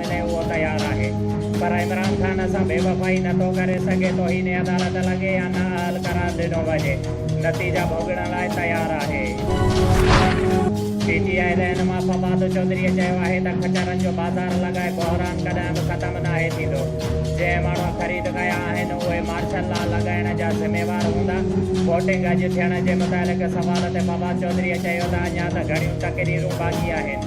لاء اهو تيار آهي پر عمران خان سان بيوفائي نه ٿو ڪري سگهي، توهين عدالت لڳي يا نه اهل قرار ڏنو وڃي، نتيجا ڀوڳڻ لاء تيار آهي. پي ٽي آء رهنما فواد چوڌريء چيو آهي ته کچرن جو بازار لڳائي بحران ڪڏهن به ختم ناهي ٿيندو، جنهن ماڻهو خريد ڪيا آهن اهي مارشل لا لڳائڻ جا ذميوار هوندا، ووٽنگ اڄ ٿيڻ جي متعلق سوال تي فواد چوڌريء چيو ته اڃا ته گهڻيون تقريرون باقي آهن.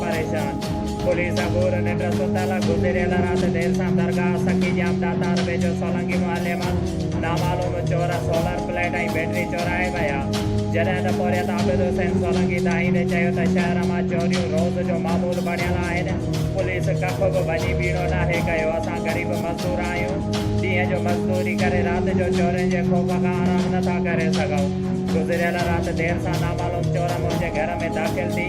پريشان پوليس جا گور ننڊ ستل گذريل رات دير سان درگاهه سخي ڄام ڏاتار ويجهو سولنگي محلي مان نامعلوم چور سولر پليٽ ۽ بيٽري چورائي ويا جڏهن ته پورهيت عابد حسين سولنگي دانهيندي چيو ته شهر مان چوريون روز جو معمول بڻيل آهن پوليس ڪک به وڃي ٻيڻو ناهي ڪيو اسان غريب مزدور آهيون ڏينهن جو مزدوري ڪري رات جو چورين جي خوف کان آرام نٿا ڪري سگهون گذريل رات دير سان نامعلوم چور منهنجي گهر ۾ داخل ٿي